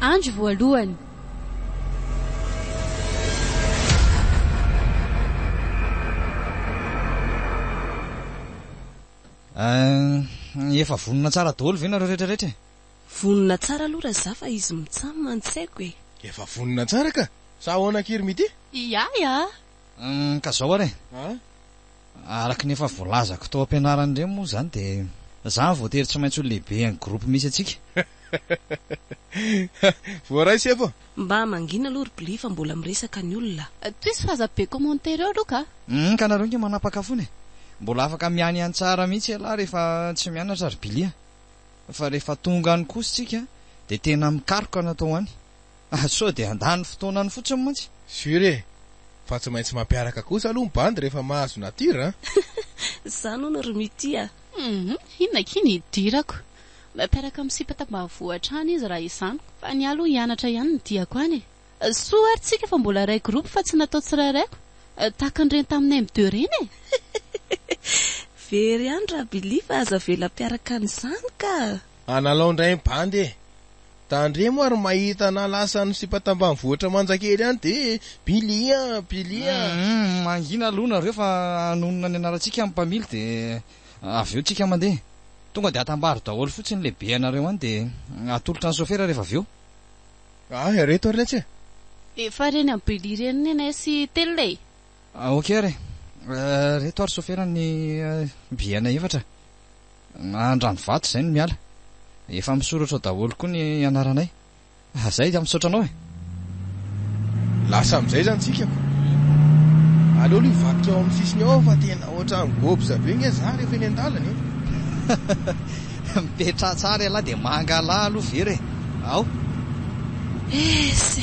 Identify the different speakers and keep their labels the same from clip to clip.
Speaker 1: Andro voalohany.
Speaker 2: Ahh, efa vonona tsara daholo ve nareo rehetra rehetra e? Vonona
Speaker 3: tsara aloha Raza fa izy mitsam an tsy haiko e. Efa vonona tsara
Speaker 4: ka! Sa ahoana akia ry Midi? Iah iah.
Speaker 1: Humm
Speaker 2: ka zao ary e! Araka ny efa voalazako tao am-pianarana ireny moa izany dia zany voatery tsy maintsy ho lehibe an'ny groupe misy antsika.
Speaker 4: Voaray sefo a! Mba mangina aloha ry
Speaker 3: Bly fa mbola miresaka ny olona. Tohizo fa aza be
Speaker 1: commentaire eo aloha ka. Humm ka nareo nge
Speaker 2: manapaka fona e! Mbola afaka mianiany tsara mihitsy ialahy rehefa tsy mianatra ry Bly a! Fa rehefa tonga any kosa tsika dia tena mikaroka ny atao any. Ah sao dia handany fotoanany fotsiny mantsy. Sur e!
Speaker 4: Fa tsy maintsy mampiaraka kosa aloha ny bandy rehefa mahazo nature an! Zany
Speaker 3: hono ry Mitia a! Hum inona
Speaker 1: akia ny hidirako? Mampiaraka amin'ny sipa tambavoa hatrany izy raha izany. Fa ny ahy aloha hianatra ihany no tiako any e! Soa ary tsika fa mbola iray groupe fa tsy natao tsirairaiko, tahaka an'ireny taminay my deux ireny e! Very
Speaker 3: ihany ra Billy fa aza avela hampiaraka an'izany ka! Analao ndray ny
Speaker 4: bandy e! Tandremo ary mahita anah lasa any sipa tambanivohitra manjakely any de bilia bilia a! Humm
Speaker 2: mangina aloha nareo fa hanonona ny anarantsika amin'ny mpamily de avy eo tsika mandeha. Tonga de atambaro daholo fotsiny le be anareo any de atolotra ny sofera rehefa avy eo. Aa
Speaker 4: ireto ary letsy e! Efa reny
Speaker 1: am Billy reny neny sy telina e! Ok ary
Speaker 2: e! Reto ary sofera ny biyena efatra Andranovato izay no miala. Efa misoratra ao daholo koa ny anaranay. Zay dia misaotra anao e!
Speaker 4: Lasa amin'izay izany tsika ko! Aleo aloha hivadika ao amin'ny sisiny ao fa tena ohatran'ny gobza be nge za rehefa eny an-dalana e! Mipetraha
Speaker 2: tsara ialahy dia mangalaha aloha vera e! Ao!
Speaker 3: Ese!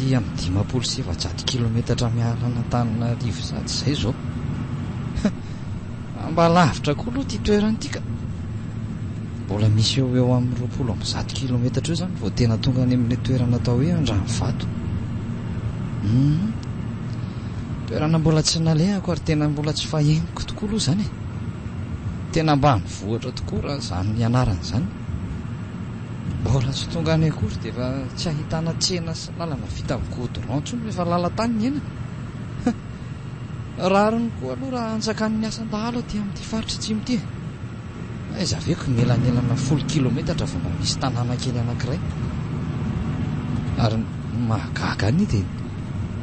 Speaker 2: Aty amin'ny dimampolo sy efajato kilometatra miala an'Antananarivo sady izay izao. Mba lavitra koa aloha ity toerana ity ka. Mbola misy eo eo amin'ny roapolo amby zato kilometatra eo izany vao tena tonga any amin'ilay toerana atao hoe Andranovato. Hmm. Toerana mbola tsy nalehako ary tena mbola tsy fahenoko tokoa aloha izany e! Tena ambanivohitra tokoa raha izany ianarana izany. Mbola tsy tonga any akory dia efa tsy ahitana tsena sy lalana vita amin'ny goudron intsony fa efa lalan-tany ny aina. Rariny koa aloha raha hanjakan'ny asan-dahalo aty amin'ity faritra atsimo ity e! Aiza ve ko ny elanelana folo kilometatra vao mba misy tanàna kely anankiray? Ary ny mahagaga anie dia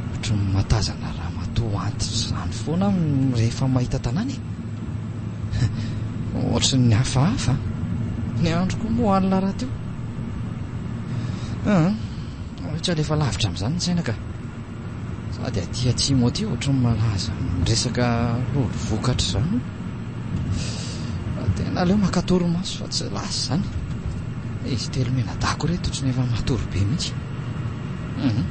Speaker 2: ohatry ny mahatazana ramatoa antitra izany foana aho rehefa mahita tanàna e! Ohatry ny hafahafa a! Ny androko moa alina rahateo. Aa, tsy alefa lavitra amin'izany ny saina ka! Sady aty atsimo aty ohatran'ny malaza amin'ny resaka lolo vokatra izany. Fa tena aleo maka torimaso fa tsy lasa izany. Izy telo menadako ireto ohatran'ny efa matory be mihitsy. Mhm.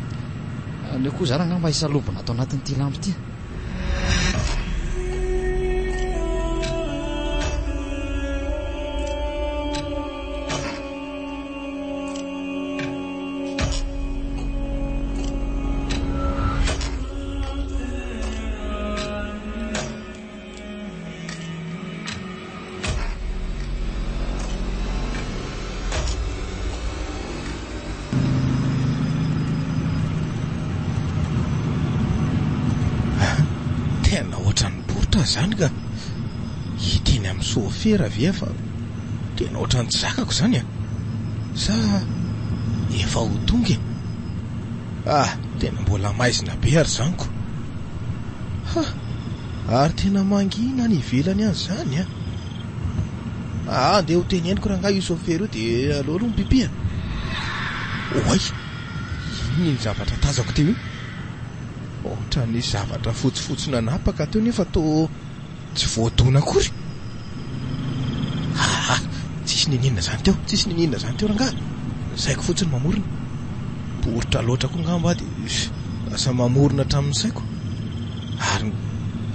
Speaker 2: Aleo koa izany angamba hisalobona ato anatin'ity lampy ity.
Speaker 4: Tena ohatran'ny bourtre izany ka! Ity ny amin'ny soafera ve fa. Tena ohatran'ny tsy zakako izany a! Sa efa ho tonga e? Ah! Tena mbola maizina be ary izany ko! Ha! Ary tena mangina any ivelany any izany a! Aa andeha ho teneniko rangahy io chauffeur io dia aleo aloha mipipihana! Oay! Inona iny zavatra tazako teo iny? Ohatran'ny zavatra fotsifotsy nanapaka teo nefa toa. Tsy voadona akory? Haha, tsisy niniana zany teo, tsisy niniana zany teo rangahy, saiko fotsiny mamorona, poritra loatra koa ngamba de lasa mamorona hatramin'ny saiko, ary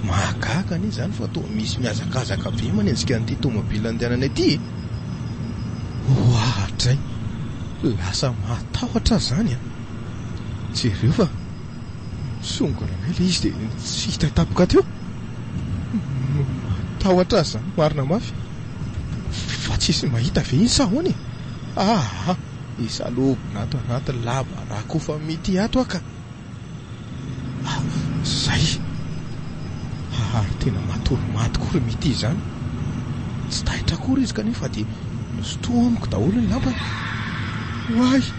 Speaker 4: mahagaga anie zany fa toa misy mihazakazaka be manenjika an'ity tomobila andehananay ity e! Oahatray! Lasa mahatahotra aho zany an! Jereo fa Nisongona indray ilay izy dia tsy hita tampoka teo. Matahotra azy izany marina mafy. Fa tsy hisy mahita ve iny sa ahoana e? Aa! Hisalobona ato anaty lava rakofa mitia ato aho ka! Izay! Ary tena matory maty koa ry Mitia izany. Tsy taitra akory izy kanefa dia nosinto amiko daholo ny lampany. Oay!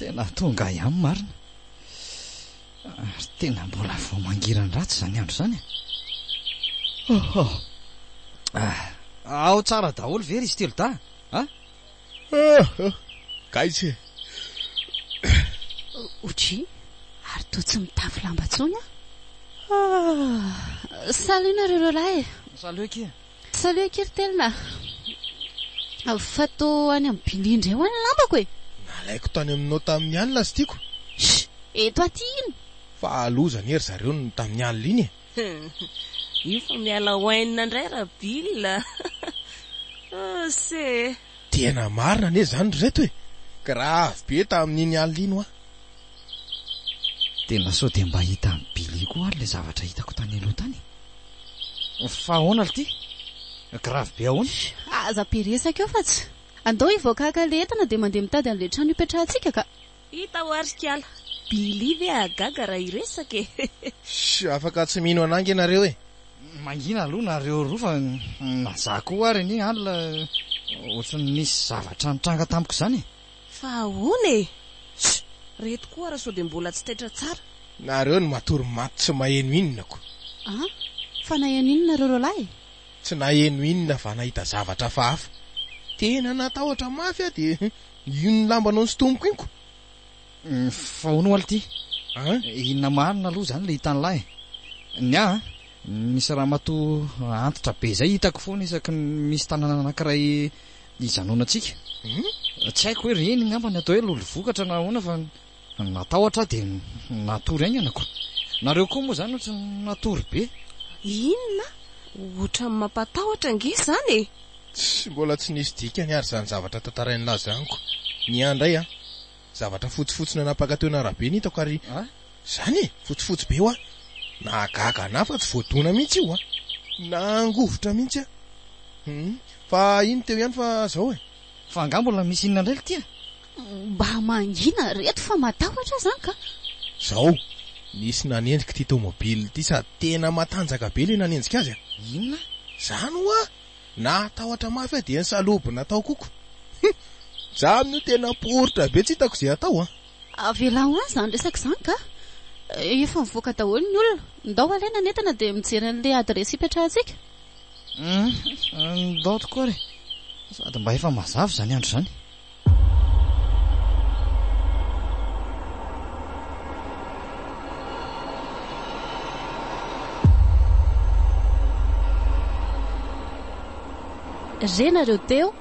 Speaker 2: tena tonga ihany marina ary tena mbola vao mangiran-dratsy izany andro izany e. oho ah, ao tsara daholo ve ry izy telo da a ah, Hahh!
Speaker 4: Gaizka e!
Speaker 1: OJ, ary toa tsy mitafy lamba tsony an! Hahh! Salut nareo roalahy e! Salut akia!
Speaker 2: Salut akia
Speaker 1: ry Telina! Fa toa any amin'ny Billy indray ho'a ny lambako e! Nalaiko tany
Speaker 4: aminao tamin'ny alina azy tiako! Shh! Eto
Speaker 1: aty ino? Fa loza
Speaker 4: anie ry zareo ny tamin'ny alina iny e!
Speaker 3: Hum io fa miala wine indray ra Bill a! Ose. Tena marina
Speaker 4: anie izany ry reto e! Grave be tamin'iny alina iny hoa.
Speaker 2: Tena sao dia mba hitan'i Billy koa ary ilay zavatra hitako tany aloha tany e! Fa ahoana lty? Grave be ahoana? Aza be resaka
Speaker 1: eo fa tsy. Andao hivoaka haka ilay entana dia mandeha mitady an'ilay trano hipetrahantsika ka! Hita aho ary
Speaker 3: kiala. Billy ve hahagaga raha hiresaka e! Shh! Afaka
Speaker 4: tsy mino anah ange nareo e! Mangina
Speaker 2: aloha nareo roa fa na zah koa ary anie alina ohatran'ny nisy zavatra nitranga tamiko izany e! Fa ahoana
Speaker 3: e! Shh! Reto koa ary sao dia mbola tsy taitra tsara. Nareo no matory
Speaker 4: maty tsy maheno inona ko! An!
Speaker 1: Fa naheno inona nareo roalahy e! Tsy naheno
Speaker 4: inona fa nahita zavatra hafahafa. Tena natahotra mafy aho dia. Io ny lambanao sy tomoko iko.
Speaker 2: Fa hono oa lty an! Inona marina aloha izany ilay hitan'lah e! Ny ahy an, misy ramatoa antitra be izay hitako foana isaky ny misy tanàna anankiray hijanonantsika. Tsy haiko hoe ireny angamba ny atao hoe lolo vokatra na ahoana fa. Natahotra aho dia natory haingana ko. Nareo koa moa izany ohatry ny natory be. Inona?
Speaker 3: Ohatran'ny mampatahotra ange izany e! Tsy mbola
Speaker 4: tsy nisy dikany ary izany zavatra tantarain'i Laza izany ko. Ny ahy indray an! Zavatra fotsifotsy nanapaka teo an'arabe no hitako ary izany e! Fotsifotsy be hoa! Nahagaga an'ahy fa tsy voadona mihitsy io an! Nangovitra mihitsy aho. Humm. Fa iny teo ihany fa izao e! Fa angaha mbola
Speaker 2: misy inona indray ry tia? Mba
Speaker 1: mangina ry reto fa matahotra zany ka. Zao
Speaker 4: nisy nanenjika ity tomobile ity sady tena matanjaka be le nanenjika azy a! Inona?
Speaker 2: Zany oa!
Speaker 4: Nahatahotra mafy aho dia nisalobona natao koko. Hum! Za amin'io tena poritra be tsy hitako ze atao a! Avelao
Speaker 1: any zany resaka zany ka! Efa mivoaka daholo ny olona. Ndao alaina ny entana dia mijery an'le adiresy hipetrahantsika. Hum!
Speaker 2: Ndao tokoa re! Sady mba efa mazava zany andro zany.
Speaker 1: Re nareo teo?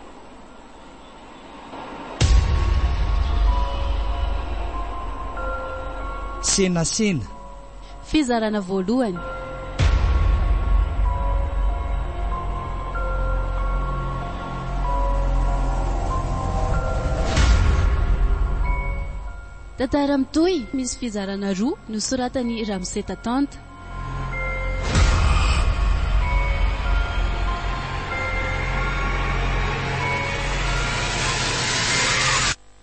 Speaker 2: Senasena.
Speaker 1: Fizarana voalohany. Tantara mitohy, misy fizarana roa, nosoratan'i Ramose Tatanta.